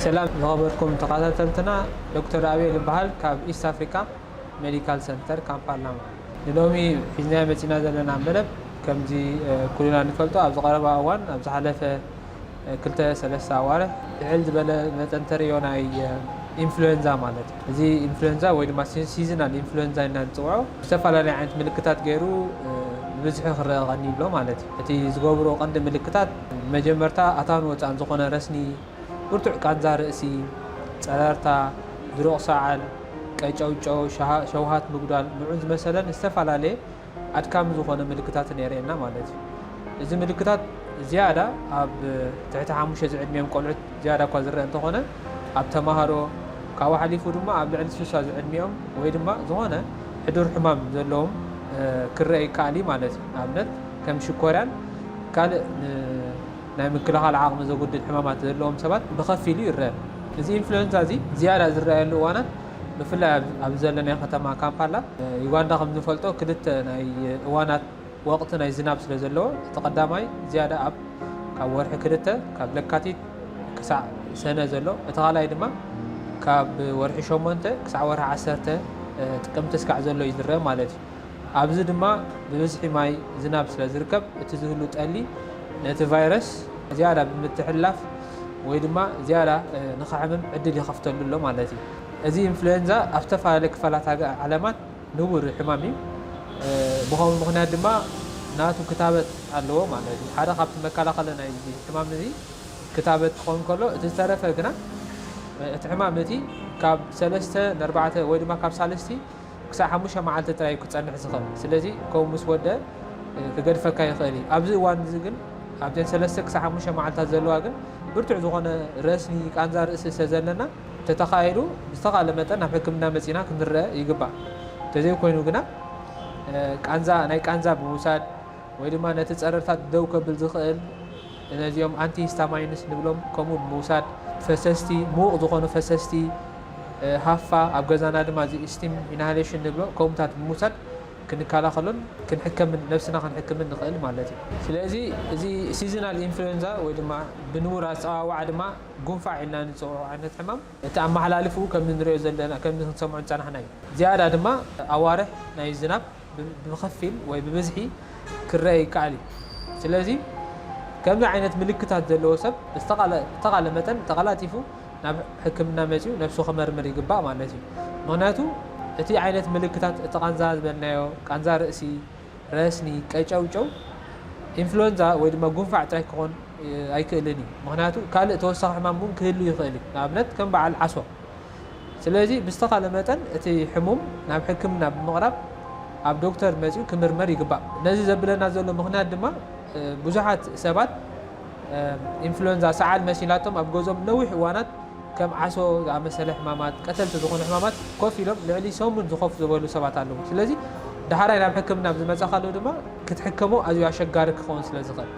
ሰላም ዝኸበርኩም ተኻታተልትና ዶክተር ኣቤል እባሃል ካብ ኢስት ኣፍሪካ መዲካል ሰንተር ካምፓላማ ንሎሚ ሒዝናዮ መፂና ዘለና መደብ ከምዚ ኩልና ንፈልጦ ኣብዚ ቀረባ እዋን ኣብ ዝሓለፈ ክልተ ሰለስተ ኣዋርሕ ልዕል ዝበለ መጠን ተርእዮ ናይ ኢንፍሉዌንዛ ማለት እዚ ኢንፍሉዌንዛ ወይ ድማ ሲዝናል ኢንፍሉዌንዛ ኢልና ንፅውዖ ዝተፈላለዩ ዓይነት ምልክታት ገይሩ ብብዝሒ ክረኣ ቀኒዩ ኣሎ ማለት እዩ እቲ ዝገብሮ ቀንዲ ምልክታት መጀመርታ ኣታን ወፃእን ዝኾነ ረስኒ ብርቱዕ ቃንዛ ርእሲ፣ ጸረርታ፣ ድሩቕ ሰዓል፣ ቀጨውጨው፣ ሸውሃት ምጉዳል ንዑን ዝመሰለን ዝተፈላለየ ኣድካሚ ዝኾነ ምልክታትን የርእየና ማለት እዩ። እዚ ምልክታት ዝያዳ ኣብ ትሕቲ ሓሙሽተ ዝዕድሚኦም ቆልዑት ዝያዳ እኳ ዝረኣ እንተኾነ ኣብ ተማሃሮ ካብኡ ሓሊፉ ድማ ኣብ ልዕሊ ስሳ ዝዕድሚኦም ወይ ድማ ዝኾነ ሕዱር ሕማም ዘለዎም ክረኣ ይከኣል እዩ ማለት እዩ። ንኣብነት ከም ሽኮርያን ካልእ ን ናይ ምክልኻል ዓቕሚ ዘጉድል ሕማማት ዘለዎም ሰባት ብኸፊል እዩ ይረኣ። እዚ ኢንፍሉዌንዛ እዚ ዝያዳ ዝረኣየሉ እዋናት ብፍላይ ኣብዚ ዘለናዮ ከተማ ካምፓላ ዩጋንዳ ከም ንፈልጦ ክልተ ናይ እዋናት ወቕቲ ናይ ዝናብ ስለ ዘለዎ እቲ ቀዳማይ ዝያዳ ኣብ ካብ ወርሒ ክልተ ካብ ለካቲት ክሳዕ ሰነ ዘሎ እቲ ካልኣይ ድማ ካብ ወርሒ ሸሞንተ ክሳዕ ወርሒ ዓሰርተ ጥቅምቲ ስካዕ ዘሎ እዩ ዝረኣ ማለት እዩ። ኣብዚ ድማ ብብዝሒ ማይ ዝናብ ስለ ዝርከብ እቲ ዝህሉ ጠሊ ነቲ ቫይረስ ዝያዳ ብምትሕልላፍ ወይ ድማ ዝያዳ ንኸሕምም ዕድል ይኸፍተሉ ኣሎ ማለት እዩ። እዚ ኢንፍሉዌንዛ ኣብ ዝተፈላለዩ ክፋላት ዓለማት ንቡር ሕማም እዩ። ብኸምኡ ምኽንያት ድማ ናቱ ክታበት ኣለዎ ማለት እዩ። ሓደ ካብቲ መከላኸሊ ናይዚ ሕማም እዚ ክታበት ክኸውን ከሎ እቲ ዝተረፈ ግና እቲ ሕማም እቲ ካብ ሰለስተ ንኣርባዕተ ወይ ድማ ካብ ሳልስቲ ክሳዕ ሓሙሽተ መዓልቲ ጥራይ እዩ ክጸንሕ ዝኽእል። ስለዚ ከምኡ ምስ ወድኣ ክገድፈካ ይኽእል እዩ። ኣብዚ እዋን እዚ ግን ኣብዘን ሰለስተ ክሳዕ ሓሙሽተ መዓልታት ዘለዋ ግን ብርቱዕ ዝኾነ ረስኒ፣ ቃንዛ ርእሲ ስለ ዘለና እንተተኻኢሉ ብዝተኻእለ መጠን ናብ ሕክምና መጺእና ክንረኣ ይግባእ። እንተዘይኮይኑ ግና ቃንዛ ናይ ቃንዛ ብምውሳድ ወይ ድማ ነቲ ጸረርታት ደው ከብል ዝኽእል፣ ነዚኦም ኣንቲ ሂስታማይንስ ንብሎም ከምኡ ብምውሳድ ፈሰስቲ ምዉቕ ዝኾኑ ፈሰስቲ ሃፋ ኣብ ገዛና ድማ እዚ ስቲም ኢንሃሌሽን ንብሎ ከምኡታት ብምውሳድ ክንከላኸሎን ክንሕከምን ነብስና ክንሕክምን ንኽእል ማለት እዩ። ስለዚ እዚ ሲዝናል ኢንፍሉዌንዛ ወይ ድማ ብንቡር ኣጸዋውዓ ድማ ጉንፋዕ ኢልና ንጽውዖ ዓይነት ሕማም፣ እቲ ኣመሓላልፍኡ ከም እንርእዮ ዘለና ከም ክንሰምዖ ዝጸናሕና'ዩ። ዝያዳ ድማ ኣዋርሕ ናይ ዝናብ ብኸፊል ወይ ብብዝሒ ክረኣ ይከኣል እዩ። ስለዚ ከምዚ ዓይነት ምልክታት ዘለዎ ሰብ ብዝተኻለ መጠን ተቐላጢፉ ናብ ሕክምና መጺኡ ነብሱ ክመርምር ይግባእ ማለት እዩ። ምኽንያቱ እቲ ዓይነት ምልክታት እቲ ቃንዛ ዝበልናዮ ቃንዛ ርእሲ፣ ረስኒ፣ ቀጨውጨው፣ ኢንፍሉዌንዛ ወይ ድማ ጉንፋዕ ጥራይ ክኾን ኣይክእልን እዩ። ምኽንያቱ ካልእ ተወሳኺ ሕማም እውን ክህሉ ይኽእል እዩ፣ ንኣብነት ከም በዓል ዓሶ። ስለዚ ብዝተኻለ መጠን እቲ ሕሙም ናብ ሕክምና ብምቕራብ ኣብ ዶክተር መጺኡ ክምርመር ይግባእ። ነዚ ዘብለና ዘሎ ምኽንያት ድማ ብዙሓት ሰባት ኢንፍሉዌንዛ፣ ሰዓል፣ መሲላቶም ኣብ ገዝኦም ንነዊሕ እዋናት ከም ዓሶ ዝኣመሰለ ሕማማት፣ ቀተልቲ ዝኾኑ ሕማማት ኮፍ ኢሎም ልዕሊ ሰሙን ዝኸፉ ዝበሉ ሰባት ኣለዉ። ስለዚ ዳሕራይ ናብ ሕክምና ኣብ ዝመጻኻሉ ድማ ክትሕከሞ ኣዝዩ ኣሸጋሪ ክኸውን ስለ ዝኽእል።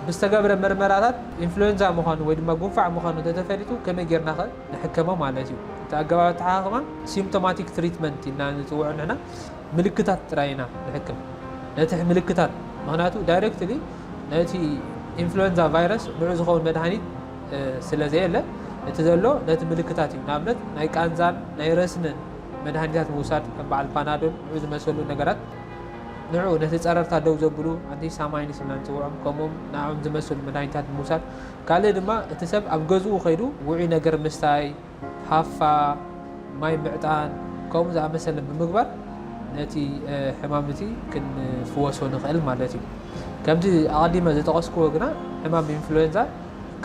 ብዝተገብረ ምርመራታት ኢንፍሉዌንዛ ምዃኑ ወይ ድማ ጉንፋዕ ምዃኑ እንተተፈሊጡ ከመይ ጌርናኸ ንሕከሞ ማለት እዩ። እቲ ኣገባብ ኣተሓኻኽማ ሲምፕቶማቲክ ትሪትመንት ኢልና ንጽውዖ ንሕና ምልክታት ጥራይ ኢና ንሕክም። ነቲ ምልክታት ምኽንያቱ ዳይረክትሊ ነቲ ኢንፍሉዌንዛ ቫይረስ ንዑ ዝኸውን መድሃኒት፣ ስለ ዘየለ እቲ ዘሎ ነቲ ምልክታት እዩ። ንኣብነት ናይ ቃንዛን ናይ ረስንን መድሃኒታት ምውሳድ ከም በዓል ፓናዶል ንዑ ዝመሰሉ ነገራት ንዑ ነቲ ጸረርታ ደው ዘብሉ ኣንቲ ሳማይንስ ኢልና ንጽውዖም ከምኡም ንኣኦም ዝመሰሉ መድሃኒታት ምውሳድ ካልእ ድማ እቲ ሰብ ኣብ ገዝኡ ከይዱ ውዑይ ነገር ምስታይ ሃፋ፣ ማይ ምዕጣን ከምኡ ዝኣመሰለ ብምግባር ነቲ ሕማም እቲ ክንፍወሶ ንኽእል ማለት እዩ። ከምቲ ኣቐዲመ ዝጠቐስክዎ ግና ሕማም ኢንፍሉዌንዛ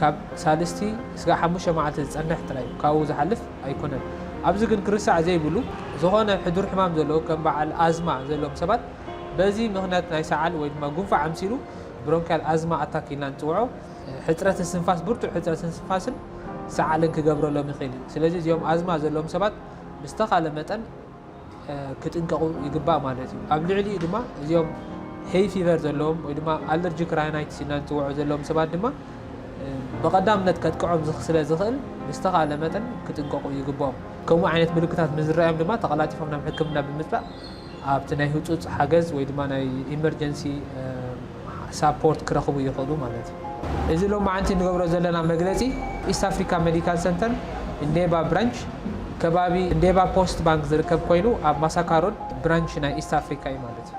ካብ ሳልስቲ ስጋዕ ሓሙሽተ መዓልቲ ዝጸንሕ ጥራይ እዩ፣ ካብኡ ዝሓልፍ ኣይኮነን። ኣብዚ ግን ክርሳዕ ዘይብሉ ዝኾነ ሕዱር ሕማም ዘለዎ ከም በዓል ኣዝማ ዘለዎም ሰባት በዚ ምኽንያት ናይ ሰዓል ወይ ድማ ጉንፋዕ ኣምሲሉ ብሮንክያል ኣዝማ ኣታክ ኢልና ንጽውዖ፣ ሕጽረት እስትንፋስ፣ ብርቱዕ ሕጽረት እስትንፋስን ሰዓልን ክገብረሎም ይኽእል እዩ። ስለዚ እዚኦም ኣዝማ ዘለዎም ሰባት ብዝተኻለ መጠን ክጥንቀቑ ይግባእ ማለት እዩ። ኣብ ልዕሊኡ ድማ እዚኦም ሄይ ፊቨር ዘለዎም ወይ ድማ ኣለርጂክ ራይናይትስ ኢልና ንጽውዖ ዘለዎም ሰባት ድማ ብቐዳምነት ከጥቅዖም ስለ ዝኽእል ብዝተኻለ መጠን ክጥንቀቑ ይግብኦም። ከምኡ ዓይነት ምልክታት ምስ ዝረኣዮም ድማ ተቐላጢፎም ናብ ሕክምና ብምጽባእ ኣብቲ ናይ ህጹጽ ሓገዝ ወይ ድማ ናይ ኢመርጀንሲ ሳፖርት ክረኽቡ ይኽእሉ ማለት እዩ። እዚ ሎማዕንቲ እንገብሮ ዘለና መግለጺ ኢስት ኣፍሪካ መዲካል ሰንተር እንዴባ ብራንች ከባቢ እንዴባ ፖስት ባንክ ዝርከብ ኮይኑ ኣብ ማሳካ ሮድ ብራንች ናይ ኢስት ኣፍሪካ እዩ ማለት እዩ።